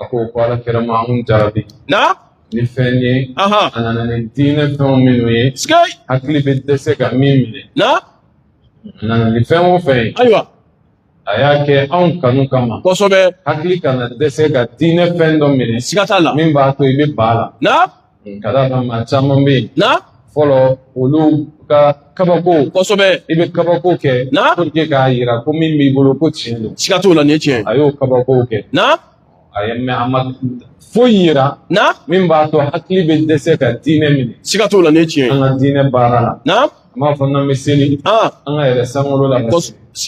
A ko ko ala kira ma anw jarabi na ni fɛn ye a nana ni diinɛ fɛnw minnu ye hakili bɛ dɛsɛ ka min minɛ na a nana ni fɛn o fɛn ye ayiwa a y'a kɛ anw kanu kama kosɛbɛ hakili kana dɛsɛ ka diinɛ fɛn dɔ minɛ siga t'a la min b'a to i bɛ balan ka d'a kan maa caman bɛ yen. na. fɔlɔ olu ka kabako. kosɛbɛ. i bɛ kabako kɛ. na. pour que k'a yira ko min b'i bolo ko tiɲɛ don. siga t'o la nin ye tiɲɛ ye. a y'o kabako kɛ. na. a ye mɛ a ma foyi yira. na. min b'a to hakili bɛ dɛsɛ ka diinɛ minɛ. siga t'o la nin ye tiɲɛ ye. an ka diinɛ baara la. na. A m'a fɔ n'an bɛ seli an ka yɛlɛn sankolo la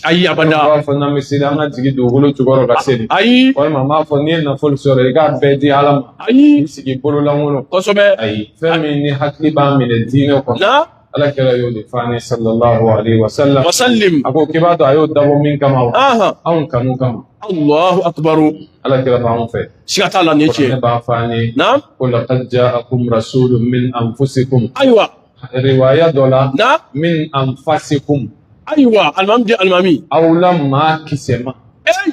ayi abada a m'a fɔ n'an bɛ seli an ka jigin dugukolo jukɔrɔ ka seli ayi walima a m'a fɔ n'i ye nafolo sɔrɔ i k'a bɛɛ di ala ma ayi i sigi bololankolon kosɛbɛ ayi fɛn min ni hakili b'a minɛ diinɛ kɔnɔ ala kira y'o de fɔ an ye sallallahu alaihi wa sallam wa sallim a ko k'i b'a dɔn a y'o dabɔ min kama wa anw kanu kama Allahu akbar ala kira b'anw fɛ siga t'a la nin ye tiɲɛ ye ne b'a fɔ an ye ko laqad ja'akum rasulun min anfusikum ayiwa riwaya dɔ la na min anfasikum ayiwa alimami di alimami aw la maa kisɛma eyi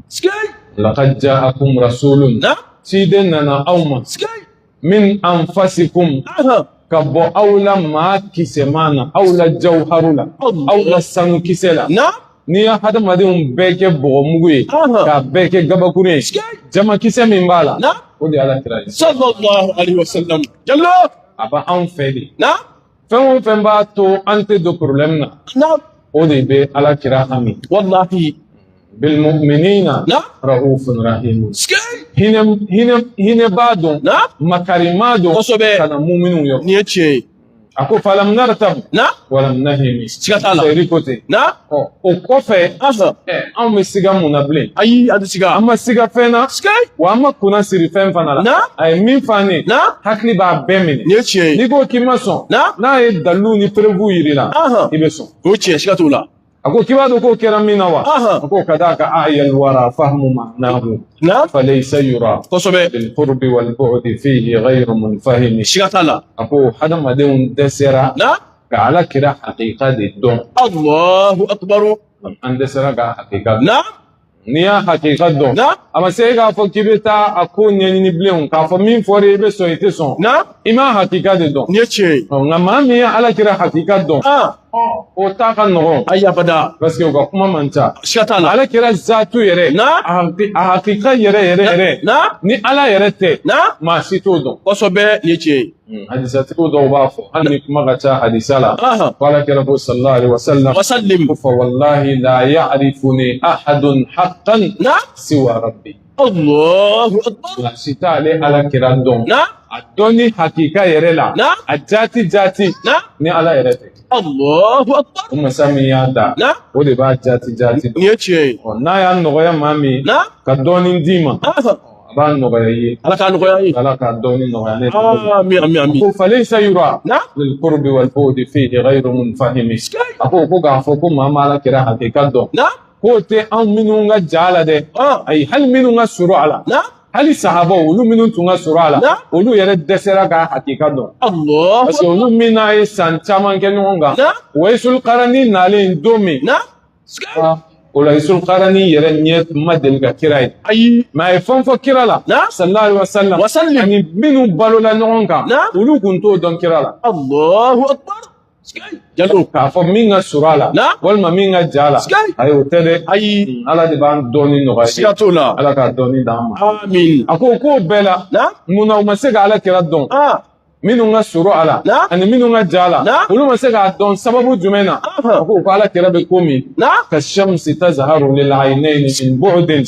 sikei laqad ja'akum rasulun na ciden nana aw ma sikei min anfasikum ahan ka bɔ aw la maa kisɛma na aw la jawharu la Allah. aw la sanu kisɛ la na n'i ye hadamadenw bɛɛ kɛ bɔgɔmugu ye Aha. k'a bɛɛ kɛ gabakurun ye sikei jamankisɛ min b'a la na o de ye ala kira ye sallallahu alaihi wasallam jallo a bɛ anw fɛ de na fɛn o fɛn b'a to an tɛ don problème na na o de bɛ ala kira hami walahi bilmuminina na raufun rahimu sike hinɛ hinɛ hinɛbaa don na makaribaa don kosɛbɛ ka na muminw yɔrɔ nin ye tiɲɛ ye a ko falam nartab na walam nahimi siga t'a la seyiri ko ten na Ɔ o kɔfɛ anw bɛ siga mun na bilen ayi an tɛ siga an ma siga fɛn na wa an ma kunnasiri fɛn fana la a ye min f'an ye hakili b'a bɛɛ minɛ nin ye tiɲɛ ye n'i ko k'i ma sɔn n'a ye dalilu ni preuve yir'i la i bɛ sɔn o ye tiɲɛ siga t'o la a ko k'i b'a dɔn k'o kɛra min na wa a ko ka d'a kan a'yal wara fahmu ma'nahu na falaysa yura kosɛbɛ filqurbi walbu'di fihi ghayru munfahimi siga t'a la a ko hadamadenw dɛsɛra ka ala kira hakika de dɔn alahu akubaru an dɛsɛra k'a hakika na n'i y'a hakika dɔn na a ma se e k'a fɔ k'i bɛ taa a ko ɲɛɲini bilen k'a fɔ min fɔra i bɛ sɔn i tɛ sɔn na i m'a hakika de dɔn nin ye tiɲɛ ye nka maa min ye ala kira hakika dɔn o ta ka nɔgɔn ayi abada parce que o ka kuma man ca siga t'a la ala kira zatu yɛrɛ na a hakika yɛrɛ yɛrɛ yɛrɛ na ni ala yɛrɛ tɛ na maa si t'o dɔn kosɛbɛ nin ye tiɲɛ ye Hmm. Hadisatigiw dɔw b'a fɔ hali ni kuma ka ca hadisa la ko ala kira ko sallallahu alaihi wasallam wasallim ko fa wallahi la ya'rifuni ahadun haqqan na siwa rabbi Allahu akbar si t'ale ala kira dɔn na a dɔnni hakika yɛrɛ la na a jati jati na ni ala yɛrɛ tɛ Allahu akbar o masa min y'a da na o de b'a jati jati dɔn nin ye tiɲɛ ye n'a y'a nɔgɔya maa min na ka dɔɔnin d'i ma A b'a nɔgɔya i ye ala k'a nɔgɔya ye ala k'a dɔnni nɔgɔya an ye amin amin amin ko falaysa yura na lilqurbi walbu'di fihi ghayru munfahimi a ko ko k'a fɔ ko maa ma ala kira hakika dɔn na k'o tɛ anw minnu ka jan a la dɛ ayi hali minnu ka surun a la na hali sahaba olu minnu tun ka surun a la olu yɛrɛ dɛsɛra k'a hakika dɔn parce que olu min n'a ye san caman kɛ ɲɔgɔn kan waisul qarani nalen don min o la waisul qarani yɛrɛ ɲɛ ma deli ka kira ye ayi mɛ a ye fɛn fɔ kira la sallallahu alaihi wasallam wasallam ani minnu balola ɲɔgɔn kan olu kun t'o dɔn kira la allahu akbar jalo k'a fɔ min ka surun a la walima min ka jan a la ayi o tɛ dɛ ayi ala de b'a dɔnni nɔgɔya siga t'o la ala k'a dɔɔni d'an ma amin a ko k'o bɛɛ la munna u ma se ka ala kira dɔn minnu ka surun a la ani minnu ka jan a la olu ma se k'a dɔn sababu jumɛn na a ko ko ala kira bɛ komi ka shamsi tazharu lil aynayni min bu'din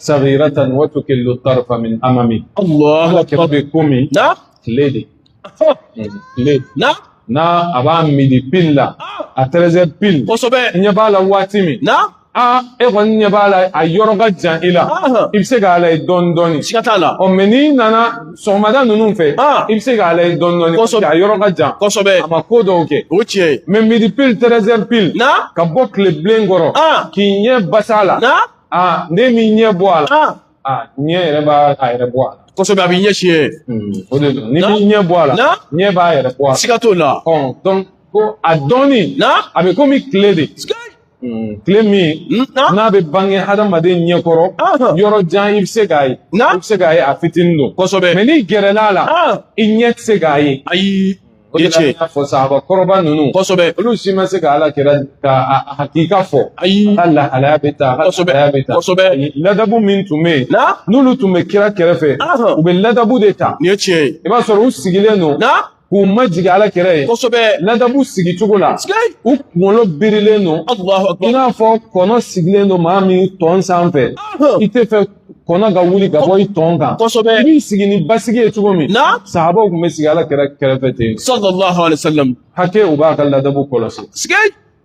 saghiratan wa tukillu tarfa min amami ala kira bɛ komi tile de tile n'a a b'a midi pile la a treize heures pile kosɛbɛ ɲɛ b'a la waati min aa e kɔni ɲɛ b'a la a yɔrɔ ka jan i la i bɛ se k'a lajɛ dɔɔni dɔɔni siga t'a la ɔ mɛ n'i nana sɔgɔmada ninnu fɛ i bɛ se k'a lajɛ dɔɔni dɔɔni kosɛbɛ a yɔrɔ ka jan kosɛbɛ a ma ko dɔw kɛ o tiɲɛ ye mɛ midi pile treize heures pile na ka bɔ tile bilen kɔrɔ k'i ɲɛ bas'a la na aa n'i m'i ɲɛ bɔ a la aa ɲɛ yɛrɛ b'a yɛrɛ bɔ a la kosɛbɛ a b'i ɲɛ tiɲɛ o de don n'i m'i ɲɛ bɔ a la ɲɛ b'a yɛrɛ bɔ a la siga t'o la ɔ ko a dɔnni na a bɛ komi tile de tile min n'a bɛ bange hadamaden ɲɛkɔrɔ yɔrɔ jan i bɛ se k'a ye i bɛ se k'a ye a fitinin don kosɛbɛ mɛ n'i gɛrɛl'a la i ɲɛ tɛ se k'a ye ayi o ye tiɲɛ ye fɔ sahaba kɔrɔba ninnu kosɛbɛ olu si ma se ka ala kira ka hakika fɔ ayi k'a lahalaya bɛɛ ta kosɛbɛ bɛɛ ta kosɛbɛ ladabu min tun bɛ yen n'olu tun bɛ kira kɛrɛfɛ u bɛ ladabu de ta nin ye tiɲɛ ye i b'a sɔrɔ u sigilen don k'u majigin ala kira ye kosɛbɛ ladabu sigi cogo la u kunkolo birilen don i n'a fɔ kɔnɔ sigilen don maa min tɔn sanfɛ i tɛ fɛ kɔnɔ ka wuli ka bɔ i tɔn kan kosɛbɛ i b'i sigi ni basigi ye cogo min sahabaw tun bɛ sigi ala kira kɛrɛfɛ ten hakɛ u b'a ka ladabu kɔlɔsi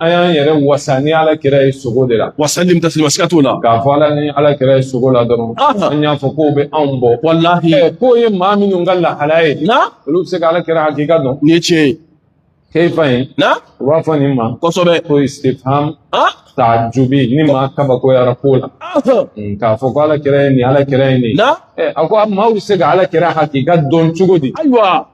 an y'an yɛrɛ wasa ni ala kira ye sogo de la wasalim tasilima siga t'o la k'a fɔ ala ni ala kira ye sogo la dɔrɔn an y'a fɔ k'o bɛ anw bɔ walahi k'o ye maa minnu ka lahala ye na olu bɛ se ka ala kira hakika dɔn nin ye tiɲɛ ye kayfa in na u b'a fɔ nin ma kosɛbɛ ko istifham taajubi ni maa kabakoyara ko la k'a fɔ ko ala kira ye nin ala kira ye nin na a ko maaw bɛ se ka ala kira hakika dɔn cogo di ayiwa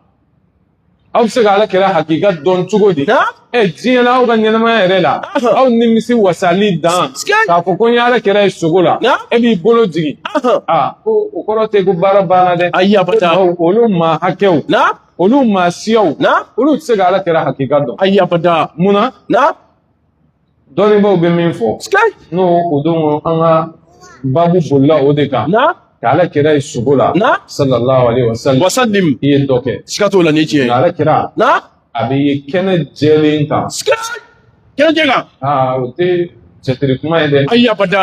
aw bɛ se ka ala kira hakika dɔn cogo di ɛ diɲɛ la aw ka ɲɛnamaya yɛrɛ la aw nimisi wasali dan k'a fɔ ko n ye ala kira ye sogo la e b'i bolo jigin aa ko o kɔrɔ tɛ ko baara banna dɛ ayi abada olu maa hakɛw olu maa siyaw olu tɛ se ka ala kira hakika dɔn ayi abada munna dɔnnibaaw bɛ min fɔ n'o o don an ka baabu bolila o de kan ka ala kira ye sogo la sallallahu alaihi wasallam wasallim i ye dɔ kɛ siga t'o la ni tiɲɛ ye ala kira a bɛ ye kɛnɛ jɛlen kan kɛnɛ jɛ kan aa o tɛ cɛtiri kuma ye dɛ ayi abada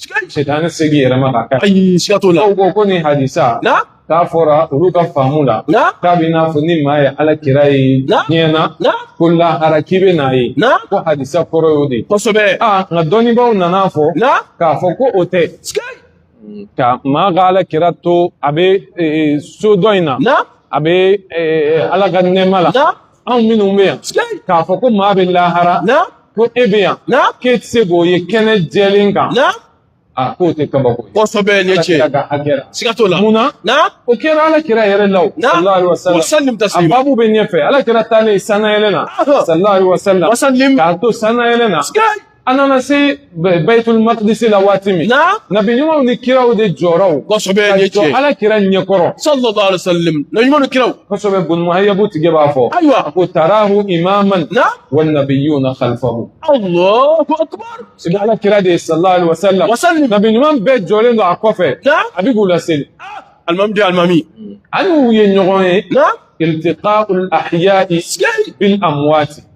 Sitani tɛ se k'i yɛlɛma k'a kɛ ayi siga t'o la aw ko ko nin hadisa na k'a fɔra olu ka faamu la na k'a bɛ n'a fɔ ni maa ye ala kira ye diɲɛ na na ko lahara k'i bɛ n'a ye na ko hadisa kɔrɔ y'o de ye kosɛbɛ aa nka dɔnnibaaw nan'a fɔ na k'a fɔ ko o tɛ ka maa ka ala kira to a bɛ so dɔ in na na a bɛ ala ka nɛɛma la anw minnu bɛ yan k'a fɔ ko maa bɛ lahara ko e bɛ yan k'e tɛ se k'o ye kɛnɛ jɛlen kan a k'o tɛ kabako ye kosɛbɛ nin ye tiɲɛ ye siga t'o la mun na o kɛra ala kira yɛrɛ la o sallallahu alaihi wasallam a baabu bɛ ɲɛfɛ ala kira taalen sannayɛlɛn na sallallahu alaihi wasallam k'a to sannayɛlɛn na an nana se bayitul makidisi la waati min na nabi ɲumanw ni kiraw de jɔra o kosɛbɛ nin ye tiɲɛ ye ala kira ɲɛkɔrɔ sallallahu alaihi wasallam nabi ɲumanw ni kiraw kosɛbɛ bun muhayabu tigi b'a fɔ ayiwa a ko tarahu imaman na wa nabiyuna khalfahu allahu akbar sigi ala kira de ye sallallahu alaihi wasallam wasallam nabi ɲuman bɛɛ jɔlen don a kɔfɛ na a bɛ k'u laseli alimami de alimami ani u ye ɲɔgɔn ye na iltiqa'ul ahya'i bil amwati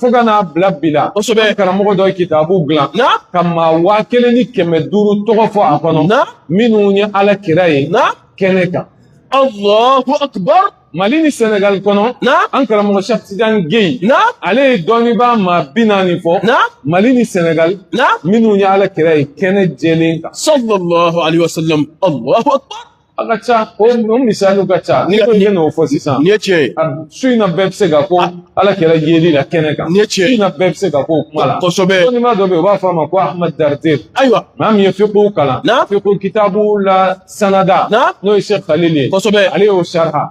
fo ka n'a bila bi la kosɛbɛ karamɔgɔ dɔ ye kitabu dilan ka maa waa kelen ni kɛmɛ duuru tɔgɔ fɔ a kɔnɔ minnu ye ala kira ye kɛnɛ kan allahu akbar mali ni senegali kɔnɔ an karamɔgɔ sɛki tijan gei ale ye dɔnnibaa maa bi naani fɔ mali ni senegali minnu ye ala kira ye kɛnɛ jɛlen kan sallallahu alaihi wasallam allahu akbar A ka ca o misaliw ka ca n'i ko ye n'o fɔ sisan nin ye tiɲɛ ye su in na bɛɛ bɛ se ka ko ala kira yeli la kɛnɛ kan nin ye tiɲɛ ye su in na bɛɛ bɛ se ka ko kuma la kosɛbɛ dɔnniba dɔ bɛ yen u b'a fɔ a ma ko Ahmad Dardir ayiwa maa min ye fiqhu kalan fiqhu kitabu la sanada n'o ye Sɛki Khalil ye kosɛbɛ ale y'o sariha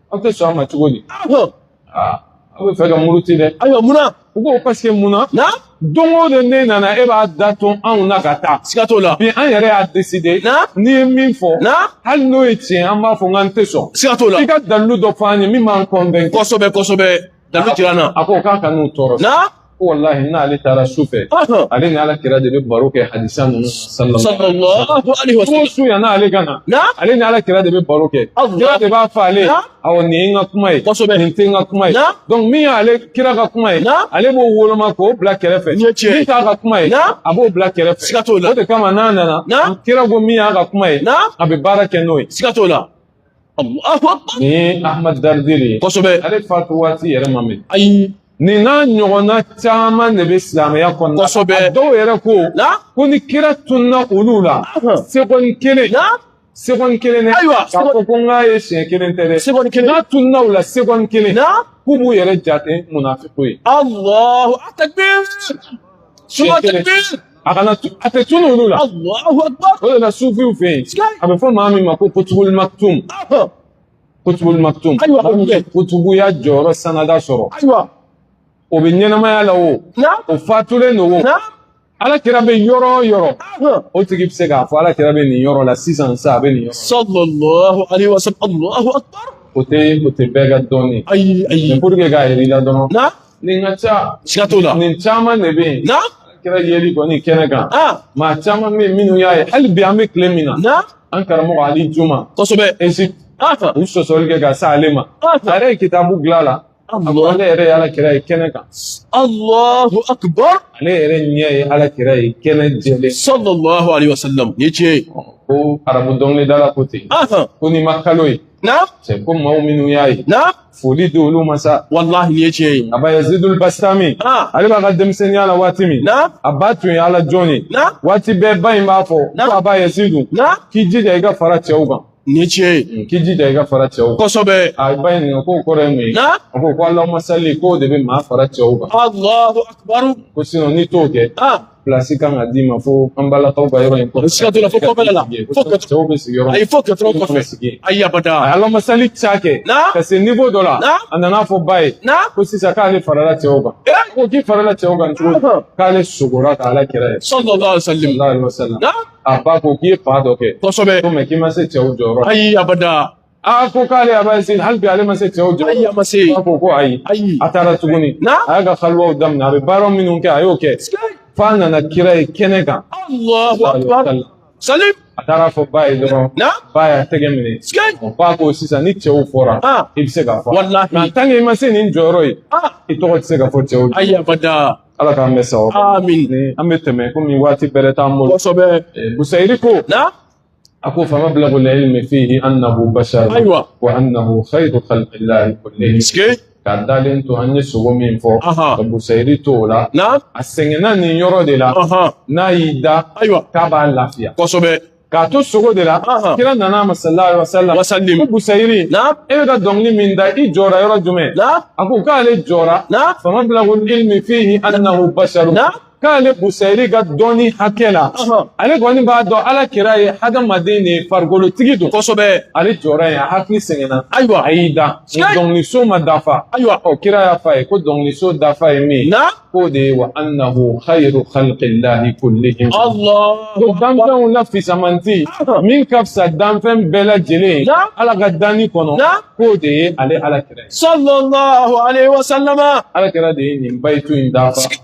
aw tɛ sɔn a ma cogo di aw bɛ fɛ ka muruti dɛ ayiwa munna u ko parce que munna na don o don ne nana e b'a da to anw na ka taa siga t'o la bi an yɛrɛ y'a décider na n'i ye min fɔ na hali n'o ye tiɲɛ an b'a fɔ n k'an tɛ sɔn siga t'o la i ka dalilu dɔ fɔ an ye min b'an convaincre kosɛbɛ kosɛbɛ Dalu jira na a ko k'a kan'u tɔɔrɔ na ko walahi n'ale taara su fɛ ale ni ala kira de bɛ baro kɛ hadisa ninnu sallallahu alaihi wa sallam su yann'ale ka na ale ni ala kira de bɛ baro kɛ kira de b'a fɔ ale awɔ nin ye n ka kuma ye kosɛbɛ nin tɛ n ka kuma ye donc min y'ale kira ka kuma ye ale b'o woloma k'o bila kɛrɛfɛ min t'a ka kuma ye a b'o bila kɛrɛfɛ siga t'o la o de kama n'a nana kira ko min y'a ka kuma ye a bɛ baara kɛ n'o ye siga t'o la ni ahmad daridiri kosɛbɛ ale fatu waati yɛrɛ ma mɛn ayi nin n'a ɲɔgɔnna caman de bɛ silamɛya kɔnɔna kosɛbɛ a dɔw yɛrɛ ko ko ni kira tunna olu la seconde kelen seconde kelen dɛ ayiwa k'a fɔ ko n k'a ye siɲɛ kelen tɛ dɛ seconde kelen n'a tunna u la seconde kelen k'u b'u yɛrɛ jate munafiku ye alahu akbar seconde kelen a kana a tɛ tunu olu la o de la sufiw fɛ yen a bɛ fɔ maa min ma ko kutubul maktum kutubul maktum kutubuya jɔyɔrɔ sanada sɔrɔ o bɛ ɲɛnamaya la o o fatulen don o ala kira bɛ yɔrɔ o yɔrɔ o tigi bɛ se k'a fɔ ala kira bɛ nin yɔrɔ la sisan sa a bɛ nin yɔrɔ. sallallahu alaihi wa sallam alahu akbar. o tɛ o tɛ bɛɛ ka dɔnni ye. ayi ayi. pour que k'a ye rêve la dɔrɔn. nin ka ca siga t'o la nin caman de bɛ yen na kira yeli kɔni kɛnɛ kan maa caman bɛ yen minnu y'a ye hali bi an bɛ tile min na an karamɔgɔ ali juma kosɛbɛ Egypte u sɔsɔli kɛ ka se ale ma a yɛrɛ ye kitabu dilan a la ale yɛrɛ ye ala kira ye kɛnɛ kan Allahu akbar ale yɛrɛ ɲɛ ye ala kira ye kɛnɛ jɛlen sallallahu alaihi wasallam nin ye tiɲɛ ye ko arabu dɔnkilidala ko ten ko n'i ma kalo ye na cɛ ko maaw minnu y'a ye na foli di olu ma sa walahi nin ye tiɲɛ ye aba yazidul bastami ah. ale b'a ka denmisɛnninya la waati min na a ba tun ye ala jɔn ye na waati bɛɛ ba in b'a fɔ ko aba yazidu na k'i jija i ka fara cɛw kan nin ye tiɲɛ ye mm, k'i jija i ka fara cɛw kan kosɛbɛ a ba in ɲininka k'o kɔrɔ ye mun ye na a ko ko alahuma sali k'o de bɛ maa fara cɛw kan alahu akibaru ko sinon n'i t'o kɛ ah. Plasi kan ka d'i ma fo an balakaw ka yɔrɔ in kɔfɛ. Siga t'o la fo kɔfɛla la. Fo kɛ cɛw bɛ sigi yɔrɔ min. Ayi fo kɛ dɔrɔn kɔfɛ. Ayi abada. A y'alahuma sali ca kɛ. Na. Ka se niveau dɔ la. Na. A nana fɔ ba ye. Na. Ko sisan k'ale farala cɛw kan. Ee. Ko k'i farala cɛw kan cogo di. K'ale sugora ka ala kira ye. Sallallahu alaihi wasallam. Na. A ba ko k'i ye fan dɔ kɛ. Kosɛbɛ. Ko mais k'i ma se cɛw jɔyɔrɔ. Ayi abada. a ko k'ale aba yazid hali bi ale ma se cɛw jɔyɔrɔ ayi a ma se a ko ko ayi ayi a taara tuguni na a y'a ka kaluwaw daminɛ a bɛ baara minnu kɛ a y'o kɛ f'a nana kira ye kɛnɛ kan salim a taara fɔ ba ye dɔrɔn ba y'a tɛgɛ minɛ ba ko sisan ni cɛw fɔra i bɛ se ka fɔ nka tant que i ma se nin jɔyɔrɔ ye i tɔgɔ tɛ se ka fɔ cɛw jɔ ayi abada ala k'an bɛɛ sago amin an bɛ tɛmɛ komi waati bɛrɛ t'an bolo kosɛbɛ busayiri ko a ko famablagu l-ilmi fihi annahu bashar ayiwa wa annahu khayru khalqillahi kullihim k'a dalen to an ye sugo min fɔ ka busayiri to o la na a sɛgɛnna nin yɔrɔ de la n'a y'i da ayiwa k'a b'a lafiya kosɛbɛ k'a to sugo de la kira nana a ma sallallahu alaihi wasallam wasallim ko busayiri na e bɛ ka dɔnkili min da i jɔra yɔrɔ jumɛn na a ko k'ale jɔra na famablagu l-ilmi fihi annahu basharun na k'ale busayiri ka dɔnni hakɛ la ale kɔni b'a dɔn ala kira ye hadamaden de ye farikolotigi don kosɛbɛ ale jɔra yen a hakili sɛgɛnna ayiwa a y'i da dɔnkiliso ma dafa ayiwa ɔ kira y'a fɔ a ye ko dɔnkiliso dafa ye min na k'o de ye wa annahu khayru khalqillahi kullihim ko danfɛnw na fisamanti min ka fisa danfɛn bɛɛ lajɛlen ye ala ka danni kɔnɔ k'o de ye ale ala kira ye sallallahu alaihi wasallama ala kira de ye nin bayitu in dafa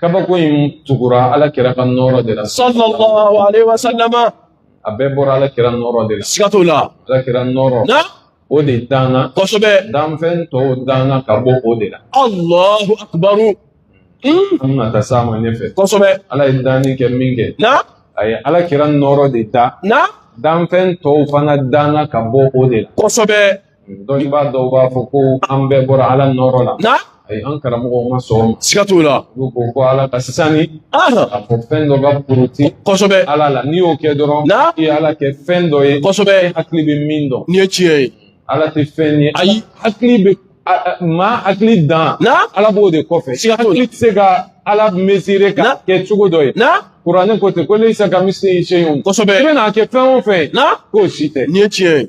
kabako in tugura ala kira ka nɔɔrɔ de la sallallahu alaihi wasallama a bɛɛ bɔra ala kira nɔɔrɔ de la siga t'o la ala kira nɔɔrɔ na o de danna kosɛbɛ danfɛn tɔw danna ka bɔ o de la allahu akbaru an bɛna taa s'a ma ɲɛfɛ kosɛbɛ ala ye danni kɛ min kɛ na a ye ala kira nɔɔrɔ de dan na danfɛn tɔw fana danna ka bɔ o de la kosɛbɛ dɔnnibaa dɔw b'a fɔ ko an bɛɛ bɔra ala nɔɔrɔ la na ayi an karamɔgɔw ma sɔn o ma siga t'o la olu ko ko ala ka sisan ni Aha. a fɔ fɛn dɔ ka poroti kosɛbɛ ala la n'i y'o kɛ dɔrɔn Na? i ye ala kɛ fɛn dɔ ye kosɛbɛ hakili bɛ min dɔn nin ye tiɲɛ ye ala tɛ fɛn ye Ayi. hakili bɛ a- a- maa hakili dan na ala b'o de kɔfɛ Siga t'o la. hakili tɛ se ka ala mesire ka Na? kɛ cogo dɔ ye na kuranɛ ko ten ko laysa kamithlihi shay'un kosɛbɛ i bɛna kɛ fɛn o fɛn ye na k'o si tɛ nin ye tiɲɛ ye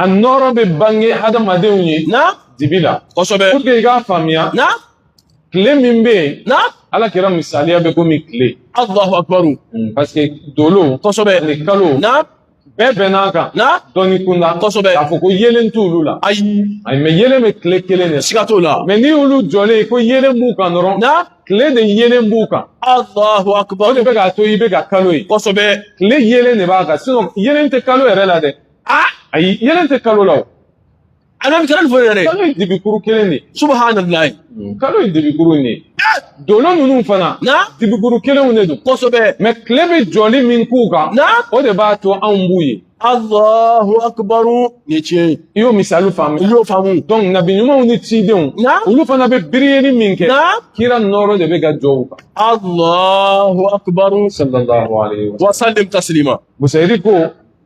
a nɔɔrɔ bɛ bange hadamadenw ye na dibi la kosɛbɛ pour que i k'a faamuya na tile min bɛ yen na ala kira misaliya bɛ komi tile alahu akibaru parce que dolo kosɛbɛ ani kalo na bɛɛ bɛnn'a kan na dɔnni kunda kosɛbɛ k'a fɔ ko yeelen t'olu la ayi ayi mɛ yeelen bɛ tile kelen de la siga t'o la mɛ ni olu jɔlen ko yeelen b'u kan dɔrɔn na tile de yeelen b'u kan alahu akibaru o de bɛ k'a to i bɛ ka kalo ye kosɛbɛ tile yeelen de b'a kan sinɔn yeelen tɛ kalo yɛrɛ la dɛ ah ayi yeelen tɛ kalo la o ala bɛ kalo fɔ yɛrɛ kalo ye dibikuru kelen de subahanallahi kalo ye dibikuru de ye dolo ninnu fana na dibikuru kelenw de don kosɛbɛ mɛ tile bɛ jɔli min k'u kan na o de b'a to anw b'u ye Allahu akibaru nin tiɲɛ ye i y'o misali faamu i y'o faamu donc nabi ɲumanw ni cidenw na olu fana bɛ biriyeli min kɛ na kira nɔɔrɔ de bɛ ka jɔ u kan Allahu akibaru sallallahu alaihi wa sallam wasalim taslima busayiri ko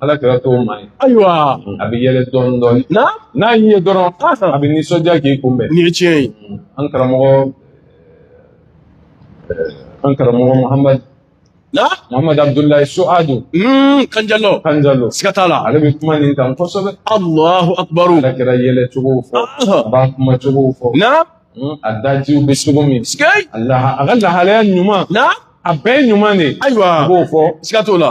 ala kira t'o maa ye ayiwa a bɛ yɛlɛ dɔɔnin dɔɔnin na n'a y'i ye dɔrɔn a bɛ nisɔndiya k'i kunbɛn nin ye tiɲɛ ye an karamɔgɔ an karamɔgɔ muhamadu na muhamadu abudulayi suadu kanjalɔ kanjalɔ siga t'a la ale bɛ kuma nin kan kosɛbɛ alahu akubaru ala kira yɛlɛ cogo fɔ a b'a kuma cogo fɔ na a dajiw bɛ cogo min siga a ka lahalaya ɲuman na a bɛɛ ɲuman de ayiwa a b'o fɔ siga t'o la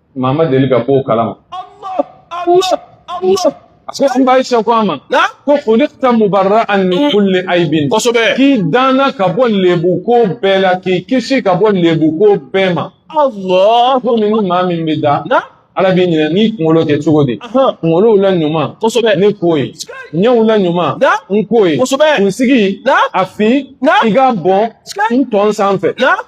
maa ma deli ka bɔ o kalama an ba ayisa ko a ma ko khuliqta mubarra'an min kulli aibin kosɛbɛ k'i danna ka bɔ lebu ko bɛɛ la k'i kisi ka bɔ lebu ko bɛɛ ma komi ni maa min bɛ da ala b'i ɲinɛ n'i kunkolo kɛ cogo di kunkolow la ɲuman kosɛbɛ ne k'o ye ɲɛw la ɲuman n k'o ye kosɛbɛ kunsigi a fin i ka bɔn n tɔn sanfɛ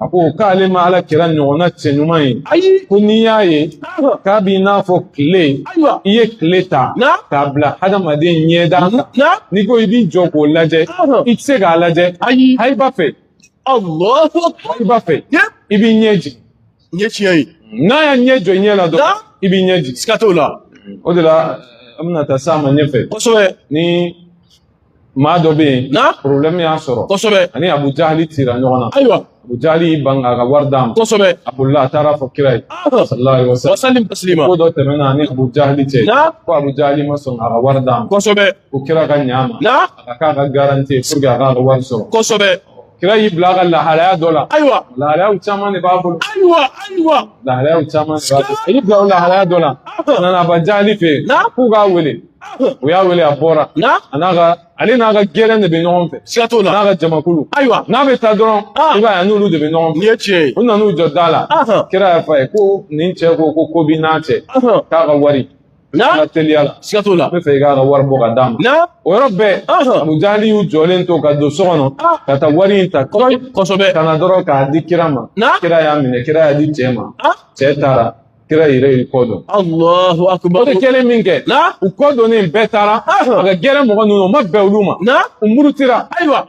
a ko k'ale ma ala kira ɲɔgɔnna cɛ ɲuman ye ayi ko n'i y'a ye k'a b'i n'a fɔ tile i ye tile ta k'a bila hadamaden ɲɛda kan n'i ko i b'i jɔ k'o lajɛ i tɛ se k'a lajɛ ayi hayiba fɛ hayiba fɛ i b'i ɲɛ jigin nin tiɲɛ ye n'a y'a ɲɛ jɔ i ɲɛ la dɔrɔn i b'i ɲɛ jigin siga t'o la o de la an bɛna taa s'a ma ɲɛfɛ kosɛbɛ ni maa dɔ bɛ yen na problème y'a sɔrɔ kosɛbɛ a ni abu jahali tira ɲɔgɔn na ayiwa abu jahali y'i ban k'a ka wari d'a ma kosɛbɛ a bolila a taara fɔ kira ye sallallahu alaihi wasallam wasalim taslima ko dɔ tɛmɛna a ni abu jahali cɛ na ko abu jahali ma sɔn k'a ka wari d'a ma kosɛbɛ ko kira ka ɲɛ a ma na a ka k'a ka garantie pour que a k'a ka wari sɔrɔ kosɛbɛ kira y'i bila a ka lahalaya dɔ la ayiwa lahalayaw caman de b'a bolo ayiwa ayiwa lahalayaw caman de b'a bolo a y'i bila o lahalaya dɔ la a nana abu jahali fɛ yen k'u k'a wele u y'a wele a bɔra a n'a ka ale n'a ka gɛrɛn de bɛ ɲɔgɔn fɛ siga t'o la n'a ka jamakulu ayiwa n'a bɛ taa dɔrɔn i b'a ye a n'olu de bɛ ɲɔgɔn fɛ nin ye tiɲɛ ye u nan'u jɔ da la kira y'a fɔ a ye ko nin cɛ ko ko ko b'i n'a cɛ k'a ka wari na teliya la siga t'o la n b'a fɛ i k'a ka wari bɔ ka d'a ma na o yɔrɔ bɛɛ abu jahali y'u jɔlen to ka don so kɔnɔ ka taa wari in ta kosɛbɛ ka na dɔrɔn k'a di kira ma kira y'a minɛ kira y'a di cɛ ma cɛ taara kira yɛrɛ y'i kɔ don alahu akubar o de kɛlen min kɛ na u kɔ donnen bɛɛ taara a ka gɛrɛn mɔgɔ ninnu o ma bɛn olu ma na u murutira ayiwa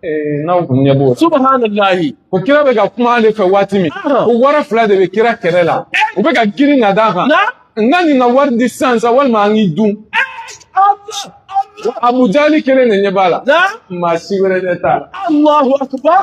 Eh, n'aw kun ɲɛ b'o subahanallahi ko kira bɛ ka kuma ale fɛ waati min ko wara fila de bɛ kira kɛrɛ la u bɛ ka girin ka d'a kan n ka nin ka wari di sisan sa walima an k'i dun abujali kelen de ɲɛ b'a la maa si wɛrɛ ɲɛ t'a la alahu akubar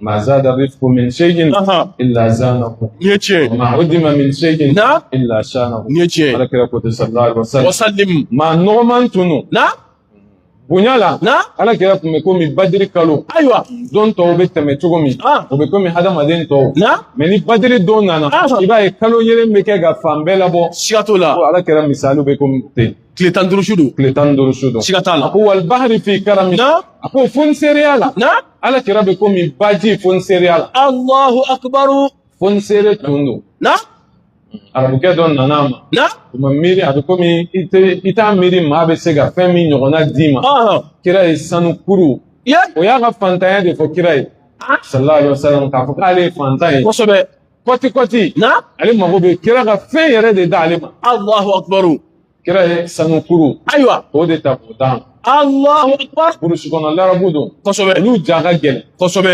ma zada rifqu min shay'in illa zanahu ni yace wa ma udima min shay'in na illa shanahu ni yace ala kira ko sallallahu alaihi wasallam wasallim maa nɔgɔman tun don bonya la na ala kira tun bɛ komi badiri kalo ayiwa don tɔw bɛ tɛmɛ cogo min ah. o bɛ komi hadamaden tɔw na mɛ ni badiri don nana ah. i b'a ye kalo yeelen bɛ kɛ ka fan bɛɛ labɔ siga t'o la ala kira misaliw bɛ komi ten tile tan duuru su don tile tan duuru su don siga t'a la a ko wal bahari fi karami na a ko fonsereya la na ala kira bɛ komi baji fonsereya la allahu akbaru fonsere tun don na arabukɛ dɔ nana a ma na o ma miiri a bɛ komi i tɛ i t'a miiri maa bɛ se ka fɛn min ɲɔgɔnna d'i ma ɔhɔn kira ye sanu kuru o y'a ka fantanya de fɔ kira ye sallallahu alaihi wasallam k'a fɔ k'ale ye fantan ye kosɛbɛ kɔti kɔti na ale mago bɛ kira ka fɛn yɛrɛ de d'ale ma alahu akubaru kira ye sanu kuru ayiwa o de ta k'o d'a ma alahu akubaru burusi kɔnɔ larabu don kosɛbɛ olu ja ka gɛlɛn kosɛbɛ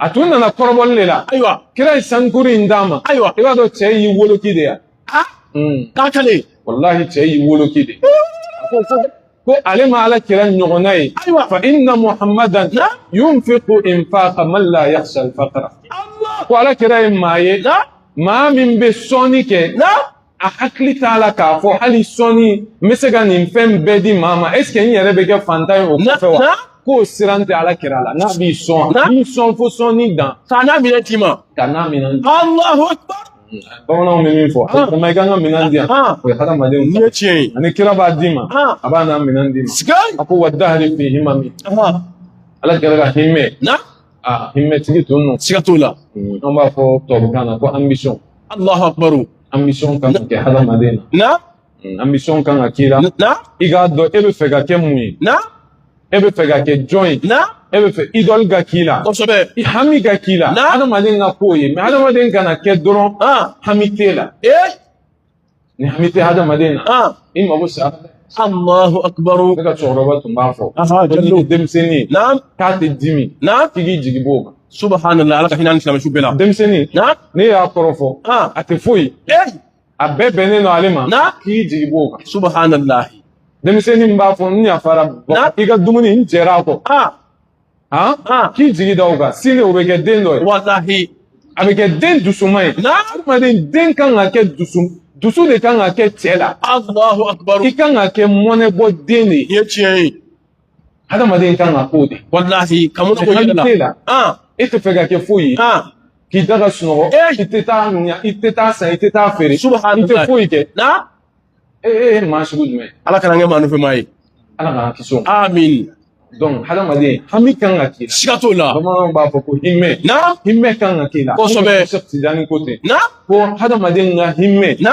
a tun nana kɔrɔbɔli de la ayiwa kira ye sanu kuru in d'a ma ayiwa i b'a dɔn cɛ y'i woloki de ya a k'a ka di walahi cɛ y'i woloki de ko ale ma ala kira ɲɔgɔnna ye fa inna muhammadan yunfiqu infaqa man la yakhsha al-faqra ko ala kira ye maa ye maa min bɛ sɔnni kɛ a hakili t'a la k'a fɔ hali sɔnni n bɛ se ka nin fɛn bɛɛ di maa ma ɛseke n yɛrɛ bɛ kɛ fantan ye o kɔfɛ wa k'o siran tɛ ala kira la n'a b'i sɔn a b'i sɔn fo sɔnni dan k'a n'a minɛn d'i ma k'a n'a minɛn Alahu akibaru bamananw bɛ min fɔ kuma i kan ka minɛn di yan o ye hadamadenw ye tiɲɛ ye ani kira b'a d'i ma a b'a n'a minɛn d'i ma a ko wa dahari fi himami ala kira ka hima aa hima tigi tun don siga t'o la an b'a fɔ tubabukan na ko ambition alahu akbaru ambition kan ka kɛ hadamaden na Mm, ambition kan ka k'i la i k'a dɔn e bɛ fɛ ka kɛ mun ye e bɛ fɛ ka kɛ jɔn ye e bɛ fɛ idɔli ka k'i la kosɛbɛ i hami ka k'i la adamaden ka k'o ye mɛ adamaden kana kɛ dɔrɔn hami t'e la ni hami tɛ adamaden na i mago sara Allahu akbar ne ka cɛkɔrɔba tun b'a fɔ ko n'i ye denmisɛnnin ye k'a tɛ dimi k'i k'i jigi b'o kan subhanallah ala ka hinɛ a ni silamɛsu bɛɛ la denmisɛnnin n'i y'a kɔrɔfɔ a tɛ foyi a bɛɛ bɛnnen don ale ma na k'i jigi b'o kan subahanallahi denmisɛnnin min b'a fɔ n yafara i ka dumuni n jɛra a kɔ k'i jigi da o kan sini o bɛ kɛ den dɔ ye walahi a bɛ kɛ den dusuma ye adamaden den kan ka kɛ dusu dusu de kan ka kɛ cɛ la alahu akubaru i kan ka kɛ mɔnɛbɔ den de ye tiɲɛ ye hadamaden kan ka k'o de walahi ka mun ko yɛlɛ la an e t'a fɛ ka kɛ foyi ye an k'i da ka sunɔgɔ i tɛ taa ɲa i tɛ taa san i tɛ taa feere i tɛ foyi kɛ na e e ye maa sugu jumɛn ala kan'an kɛ maa nɔfɛ maa ye ala k'an kisi o amin donc hadamaden hami kan ka k'i la siga t'o la bamananw b'a fɔ ko himɛ na himɛ kan ka k'i la kosɛbɛ sheikh tijani ko ten a ko hadamaden ka himɛ na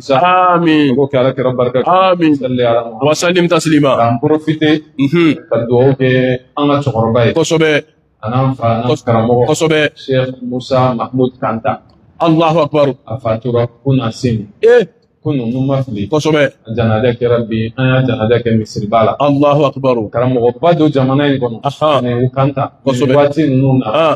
sa amin k'o kɛ ala kira barka amin salli ala muhammad wa sallim taslima an profite mhm ka duwawu kɛ an ka cɛkɔrɔba ye kosɛbɛ an'an fa an'an Kos- karamɔgɔ kosɛbɛ sheikh musa mahmud kanta allahu akbar a fatura kunasini eh kunu ni n ma fili kosɛbɛ a janaja kɛra bi an y'a janaja kɛ misiriba la allahu akbar karamɔgɔba don jamana in kɔnɔ Aha. ani u kanta Kosɛbɛ. nin waati ninnu na ah